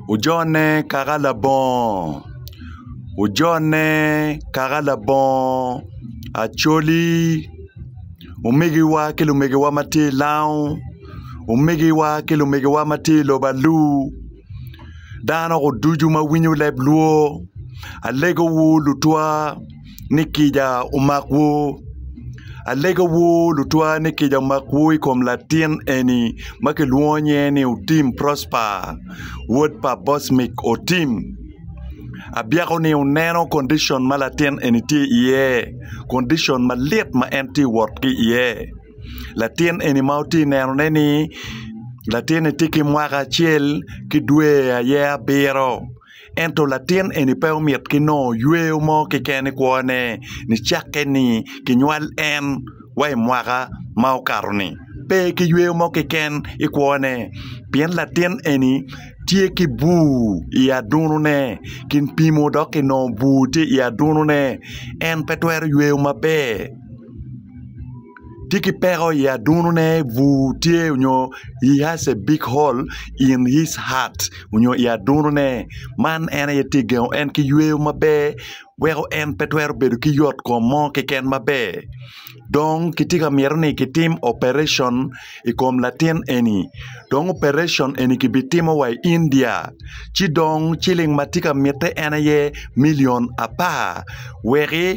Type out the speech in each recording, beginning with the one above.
Ojone kaka labongo Ojone kaka labongo Acholi Omegiwa ki lumegiwa ma tye i Lango Omegiwa ki lumegiwa ma tye i lobo alur Dano ducu ma winyo leb lwor Alegowu lutwa ni kica omakwu. Alegawu lutwa ni kica omakwu i kom latin eni ma kilwongo nyinge ni Otim Prosper, wod pa Bosmic Otim. Abyeko-ni oneno kondicon ma latin eni tye iye, kondicon malit ma en tye ka wot ki iye. Latin eni ma wutye ka nenone-ni, latin-ni tye ki mwaka acel ki dwe aye abiro. Ento latin eni pe omit ki nongo yweyo mo keken i kwone nicakke ni kinywal en wa i mwaka ma okato-ni. Pe ki yweyo mo keken i kwone pien latin eni tye ki bur i adunone. Kin pimo dok kinongo bur tye i adunone, en pe twero yweyo maber. tye ki peko i adunone bur tye nyo he has a big hole in his heart nyo i adunone man en aye tye gengo en ki yweyo maber weko en pe twero bedo ki yot kom mo keken maber dong kitye ka myero ni kitim operation i kom latin eni dong operation eni kibitimo wa i India ci dong ciling ma tye ka mitte en aye milion apar weki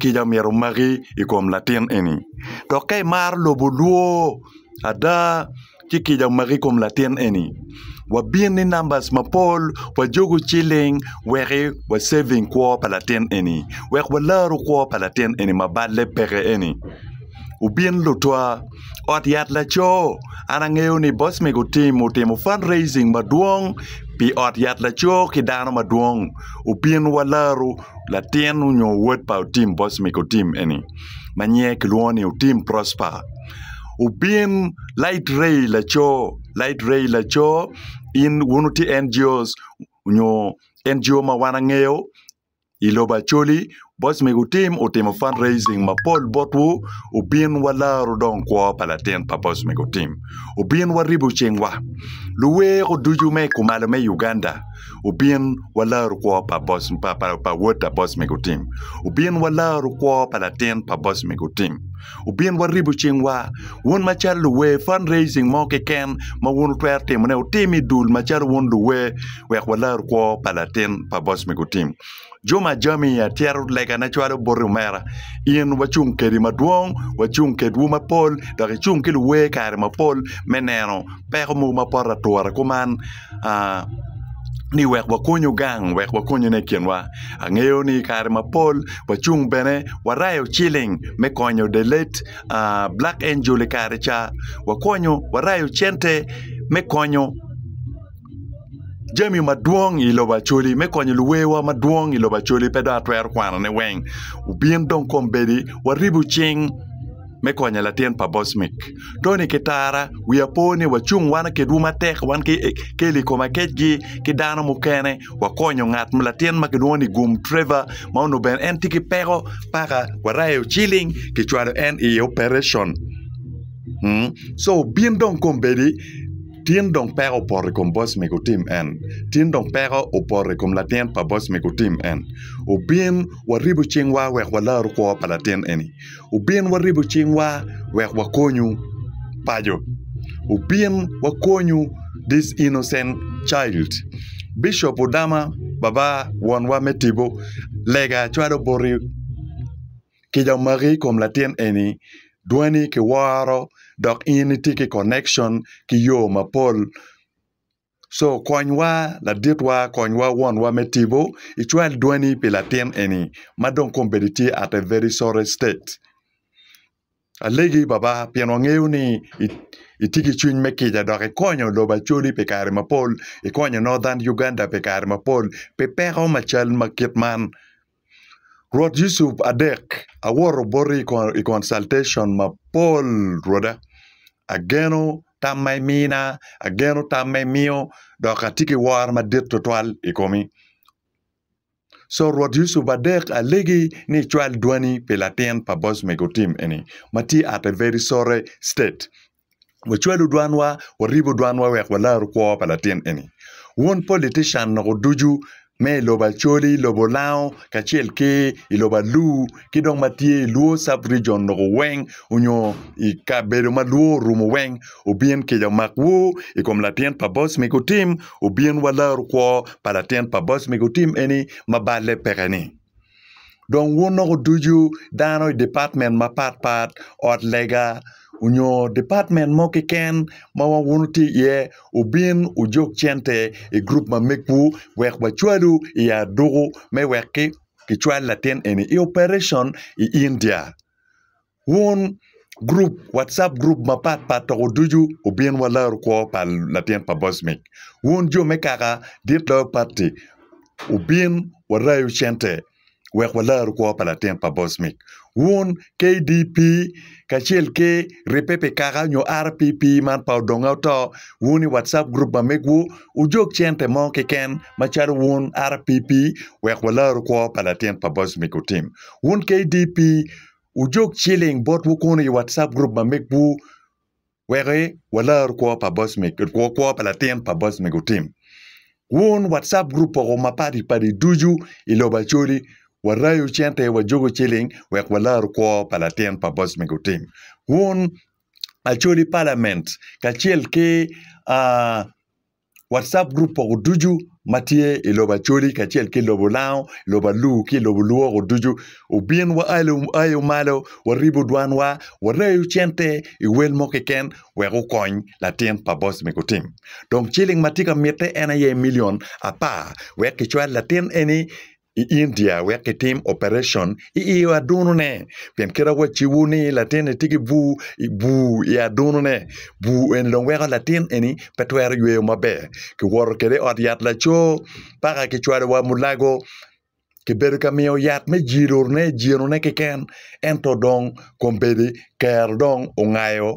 kica omyero omaki i kom latin eni dok ka imaro lobo olwo ada ci kica omaki i kom latin eni wabin ni namba mapol wajuku ciling wek wa ceving kwo pa latin eni wek walaru kwo pa latin eni ma balle peke eni wubin lutwa ot yat laco an angeyo ni boc mego tim otimo fun raising madwong pi ot yat laco ki dano madwong wubin walaru. latin nyo wod pa Otim Bosmic Otim eni ma nyinge kilwongo ni Otim Prosper obin Lait Ray Laco Lait Ray Laco in wun wutye NGOs nyo NGO ma wan angeyo i lobo Acholi Bosmic Otim otimo fund raising mapol botwu obin walaro dong kwo pa latin pa Bosmic Otim obin waribo cingwa luweko ducu me kumalo me Uganda. Obin walaru kwo pa wod pa boc mego otim. Obin walaru kwo pa latin pa boc mego otim. Obin waribu cingwa. Wun macalo luwer fund raising mo keken ma wun wutwero timone wutim idul macalo wun luwer wek walaru kwo pa latin pa boc mego otim. Juma Ajami atyero legana cwalo boti omera, in wacung kedi madwong wacung kedwu mapol dok icung ki luwer kare mapol me neno peko mogo ma poto ature kuman ni wek wakony gang wek wakonyone i kinwa angeyo ni i kare mapol wacung bene warayo ciling me konyo the late Black Angel i kare ca wakonyo warayo cente me konyo jami madwong i lobo Acholi me konyo luwewa madwong i lobo Acholi pe dong atwero kwanone weng obin dong kombeddi waribu cing me konyo latin pa Bosmic Tony ki Tara wiya po ni wacung wan kedwu matek wan ki Kelly Komaketgi ki dano mukene wakonyo ngat ma latin ma kilwongo ni Gum Trevor ma onongo bene en tye ki peko paka warayo ciling kicwalo en i operation so obin dong kombeddi Tin dong peko opoto i kom boc mege otim en. Tin dong peko opoto i kom latin pa boc mege otim en. Obin waribu cingwa wek walaru kwo pa latin eni. Obin waribu cingwa wek wakonyu paco. Obin wakonyu this innocent child. Bishop Odama, Baba, Wonwa me Tipo, lega cwalo boti. Kica omaki i kom latin eni, dwani kiworo dok in itye ki connection ki yo mapol. Co konywa laditwa konywa wonwa me tibo icwal dwani pi latin eni ma dong kombeddi tye at a very sorry state. Alegi Baba pien wangeyo ni itye ki cwiny me kica dok ikonyo lobo Acholi pi kare mapol, ikonyo Northern Uganda pi kare mapol pi peko ma cal ma kit man. Rwot Yecu adek awoto boti i consultation mapol Rwoda, ageno tam ma imina, ageno tam ma imiyo dok atye ki woro madit tutwal i komi. Co rwot Yucup adek alegi ni icwal dwani pi latin pa boc mego tim eni ma tye ata i Very Sorry State. Wacwalu dwanwa, waribu dwanwa wek walaru kwo pa latin eni. Wun politician noko ducu me i lobo Acholi, lobo Lango kacel ki i lobo Alur, ki dong ma tye i lwor cub region loko weng onyo i kabedo ma lwor orumo weng obin kica omak woo i kom latin pa boc ma gutim obin wa laro kwo pa latin pa boc ma gutim eni ma balle peke ni dong wun loko ducu dano i department mapat pat ot lega onyo department mo keken ma wun wutye i ye obin ojog cente i group ma megwu wek wacwalu i aduku me wek ki kicwal latin eni i opereson i India wun gurup wacap gurup mapat pat toko ducu obin wa larikwo pa latin pa Bocmic wun jo me kaka dit loyo pati obin warayu cente wek walar kwo pa latin pa Bocmic wun KDP kacel ki Ripepe Kaka nyo RPP man pa odonge oto wun i WhatsApp group ma megwu wujog cente mo keken macalo wun RPP wek walaru kwo pa latin pa Boss Mick Otim. Wun KDP wujog ciling botwu kunu i WhatsApp group ma megwu Weko walor kwo pa Bosmik, kwo kwo pa latin pa Bosmik otim. Wun WhatsApp group poko mapadi padi ducu i lobo Acholi warayo cente wajuku ciling wek walor kwo pa latin pa Bosmik otim. Wun Acholi Parliament kacel ki aa. Whatsapp group poko ducu ma tye i lobo Acholi kacel ki lobo Lango, lobo Alur ki lobo Lwoko ducu. Obin wa ayo ayo malo, waribo dwanwa, warayo cente i wel mo keken wek wukony latin pa boss me gutim. Dong ciling ma tye ka mitte en aye milion apar wek kicwal latin eni i India wek kitim opereson i i adunone pien kit ma wacibo ni latinni tye ki bur bur i adunone bur eni dong weko latin eni pe twero yweyo maber kiwoto kwede i ot yat laco paka kicwalo wa mulago kibedo ka miyo yat me jilone jinone keken ento dong kombeddi kero dong ongayo.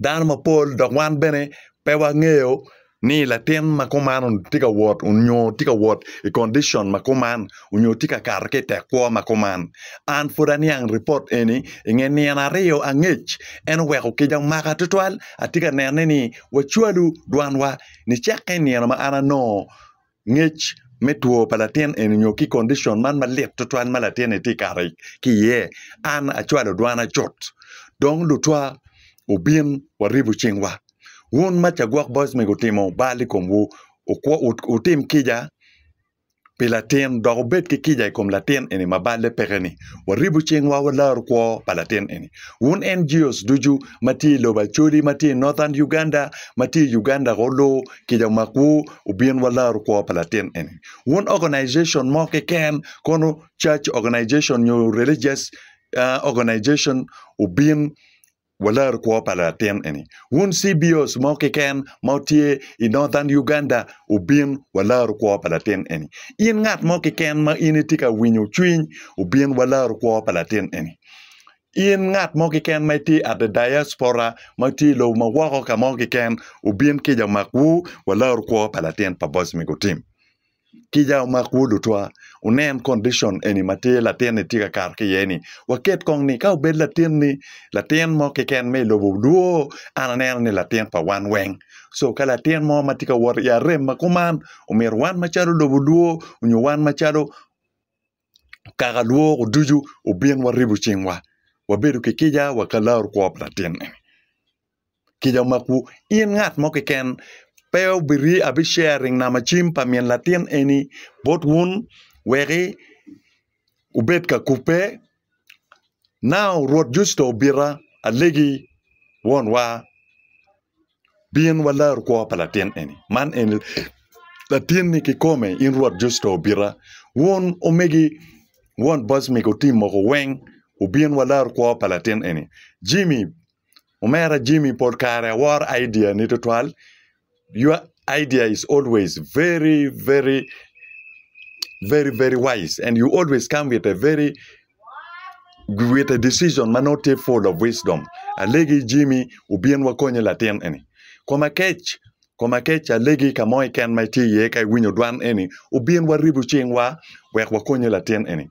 dano mapol dok wan bene pe wangeyo ni latin ma kuman tye ka wot nyo tye ka wot i condition ma kuman nyo tye ka kato ki i tek kwo ma kuman an pud aniang ripot eni i nge nino aryo angec en oweko kica omaka tutwal atye ka nene ni wacwalu dwanwa nicakke i nino ma an anongo Ngec me two pa latin eni nyo ki condition man malit tutwal ma latin ni tye kato ki iye, an acwalo dwana cut dong lutwa obin waribu cingwa. Wun ma ca gwok boys mego timo bal i komwu, wutim kica pi latin dok wubed ki kica i kom latin eni ma balle peke ni. Waribu cingwa walaru kwo pa latin eni. Wun NGOs ducu ma tye i lobo Acholi, ma tye i Northern Uganda, ma tye i Uganda ko lu kica mak wu wubin wa laru kwo pa latin eni wun organization mo keken kono church organization nyo religious organization wubin wa laru kwo pa latin eni wun CBOs mo keken ma tye i Northern Uganda wubin wa laru kwo pa latin eni in ngat mo keken ma in itye ka winyo cwiny wubin wa laru kwo pa latin eni In ngat mo keken ma itye at a diaspora ma itye i lobo ma woko ka mo keken obin kica omakwu wa laru kwo pa latin pa boss me gutim kica omakwu lutwa wunen condition eni ma tye latin ni tye ka kato ki iye ni waket kong ni ka obed latin ni latin mo keken ma i lobo lwo an aneno ni latin pa wan weng co ka latin mo ma tye ka wot i arem ma kuman omyero wan macalo lobo lwo nyo wan macalo kaka lwoko ducu obin waribu cingwa wabedo ki kica wa ka larkwo pa latin eni kica omakwu in ngat mo keken pe obiri abi sharing nama cim pa min latin eni bot wun weki wubed ka kubbe nau Rwot Yecu dong obita alegi wonwa. Bin walaro kwo pa latin eni. Man eni latinni kikome in Rwot Jucito obita. Wun omegi won boc mego tim moko weng wubin walaro kwo pa latin eni. Jimmy, omera Jimmy pol kare aworo idea ni twatwal. Your idea is always very very very very wise and you always come with a very with a decision ma nongo tye full of wisdom alegi Jimmy obin wakonye latin eni koma kec koma kec alegi ka mo keken ma itye iye ka iwinyo dwan eni obin waribu cingwa wek wakonye latin eni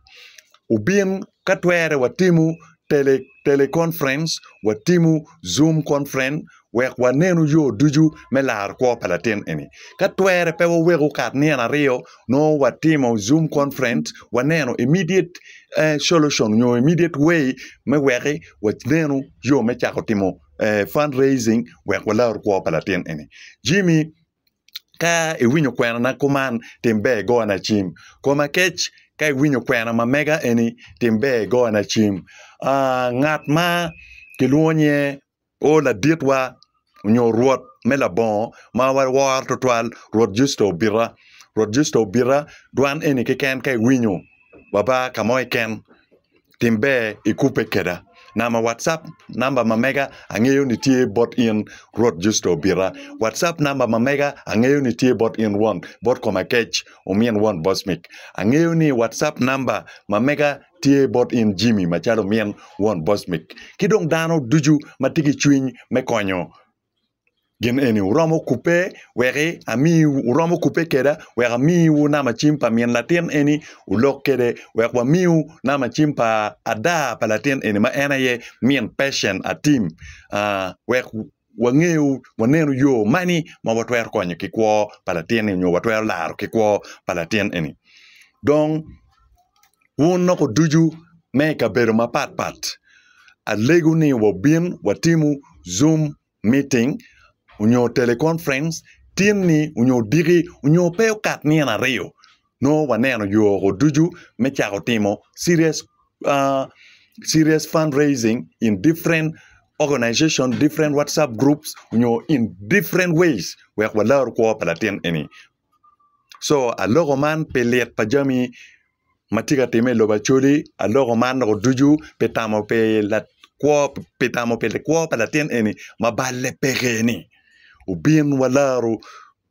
obin ka twere watimo tele teleconference watimo zoom conference Wek wanenu yo ducu me laro kwo pa latin eni. Ka twere pe waweko kat nino aryo nongo watimo zoom conference waneno immediate solution nyo immediate way me weki wanenu yo me cako timo fund raising wek walar kwo pa latin eni. Jimmy ka iwinyo kwena na kuman tim ber igona cim. Koma kec ka iwinyo kwena ma mega eni tim ber igona cim. Ngat ma kilwongo nye O laditwa, onyo rwot me labongo ma waworo tutwal, Rwot Justo obita. Rwot Justo obita, dwan eni keken ka iwinyo wa ba ka mo keken, tim ber ikubbe keda. Nama Whatsapp namba ma mega angeyo ni tye bot in Rwot Justo obita. Whatsapp namba ma mega angeyo ni tye bot in won bot koma kec, omin won Bosmic. Angeyo ni Whatsapp namba ma mega tye bot in Jimmy macalo min won Bosmic ki dong dano ducu ma tye ki cwiny me konyo gin eni. Wuromo kubbe wek ami, wuromo kubbe keda wek amiwu namacim pa min latin eni olok kede wek wamiu namacim pa ada pa latin eni ma en aye min Patient Atim, aa, wek wangeyo waneno yo mani ma watwero konyo ki kwo pa latin eni nyo watwero laro ki kwo pa latin eni dong wun loko ducu ma i kabedo mapat pat alego ni wabin watimu zoom meeting nyo teleconference tin ni nyo odiki nyo pe okat nino aryo nongo waneno yoko ducu me cako timo serious serious fund raising in different organization, different WhatsApp groups nyo in different ways wek walaru kwo pa latin eni co aloko man pi lik pa jami ma tye ka timme i lobo Acholi aloko man doko ducu pi tamo pi lakwo pi tamo pi likwo pa latin eni ma balle peke-ni obin walaru